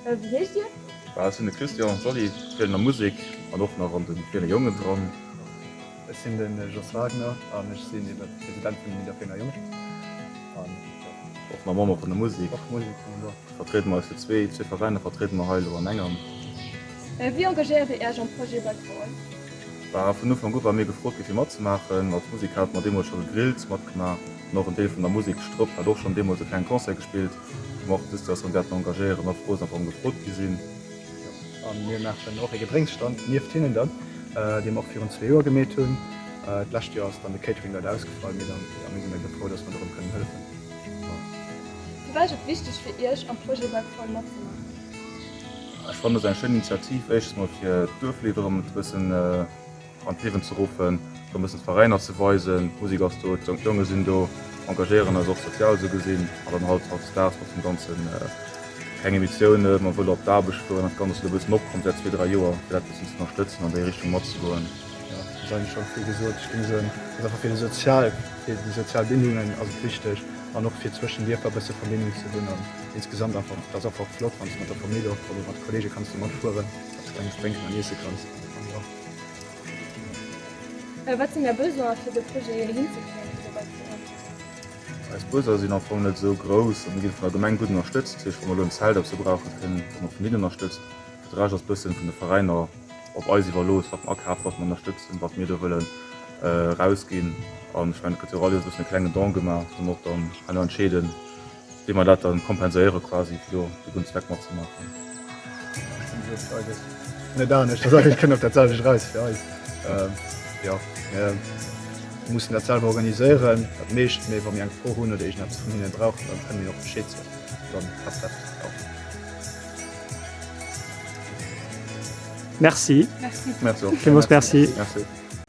Wéi heescht Dir? Ech sinn de Christian. D'Jolly spillen a Musek an och nach an de Kleene Jongen dran. Ech sinn de Jos Wagner an ech sinn ebe President vun den Nidderfenger Jongen. Och mam Member vun der Musik. Och Musik kommen do. Vertriede mer eis zu zwee. Zwee Veräiner vertriede mer hei elo an engem. Wéi engagéiert Dir Iech am Projet Backbone? Bah, vun Ufank u wa mir gefrot gi fir matzemaachen. Als Musik hate mer deemools scho gegrillt, matgemaach an och en Deel vun der Musek. Stropp hat och schonn deemools e klenge Concert gespillt, wou mer och dës Situatioun wäerten engagéieren, och froh sinn, einfach ëm gefrot gi sinn. A mir maachen och ee Gedrénksstand nieft hinnen dann, dee mer och virun zwee Joer gemeet hunn. D'lescht Joer ass dann de Catering leider ausgefall, mee dann, jo, mir sinn dacks frou, dass mer dorëm kënnen hëllefen. Firwat ass et wichteg fir Iech, am Projet Webfall matzemaachen? Ech fannen, et ass eng schéin Initiativ, éischtens mol fir d'Duerflidd erëm e bëssen, an d'Liewen ze ruffen, fir e bëssen d'Veräiner ze weisen, d'Musik ass do, d'Jonk Jonge sinn do, engagéieren eis och sozial esou gesinn, an dann halt hautdesdaags mat deem Ganzen, keng Emissiounen, mer wëlle op d'Aarbecht fueren, dat Ganzt ass elo e bëssen opkomm säit zwee, dräi Joer, fir dat e bëssen z'ënnerstëtzen, an déi Richtung matzegoen. Jo, et ass eigentlech schonn vill gesot. Ech géing soen, et ass einfach fir de sozial, fir déi sozial Bindungen ass et wichteg, an och fir zwëschen Dierfer e bësse Verbindung ze hunn, an insgesamt einfach, et ass einfach flott, wann s de mat der Famill oder mat de Kolleege kanns do matfueren, datt s de klenges drénken an iesse kanns. Wat sinn Är Besoin fir de Projet hinzekréien fir dobäi ze hunn? Eis Besoin sinn am Fong net esou grouss a mir ginn vun der Gemeng gutt ënnerstëtzt. Dat heescht wa mer elo en Zelt op se brauchen kréien mer vun hinnen ënnerstëtzt. Fir de Rescht ass bëssen vun de Veräiner op eis iwwerlooss wat mer akafen, wat mer ënnerstëtzen, wat mir do wëllen erausginn. An ech mengen et gëtt jo och all Joer e bëssen e klengen Don gemaach, dat muss mer och dann herno entscheeden. Wéi mer dat dann kompenséieren quasi fir do de Gunn Zweck mat ze maachen. Net anescht ass eigentlech kënnt op dat selwecht eraus fir eis. Jo mir mussen dat selwer organiséieren dat meescht, mee wa mir eng Fro hunn oder iergend eppes vun hinnen brauchen, dann kënne mir och Bescheed soen, dann klappt dat och. Merci. Merci. Merci och. Villmools Merci. Merci.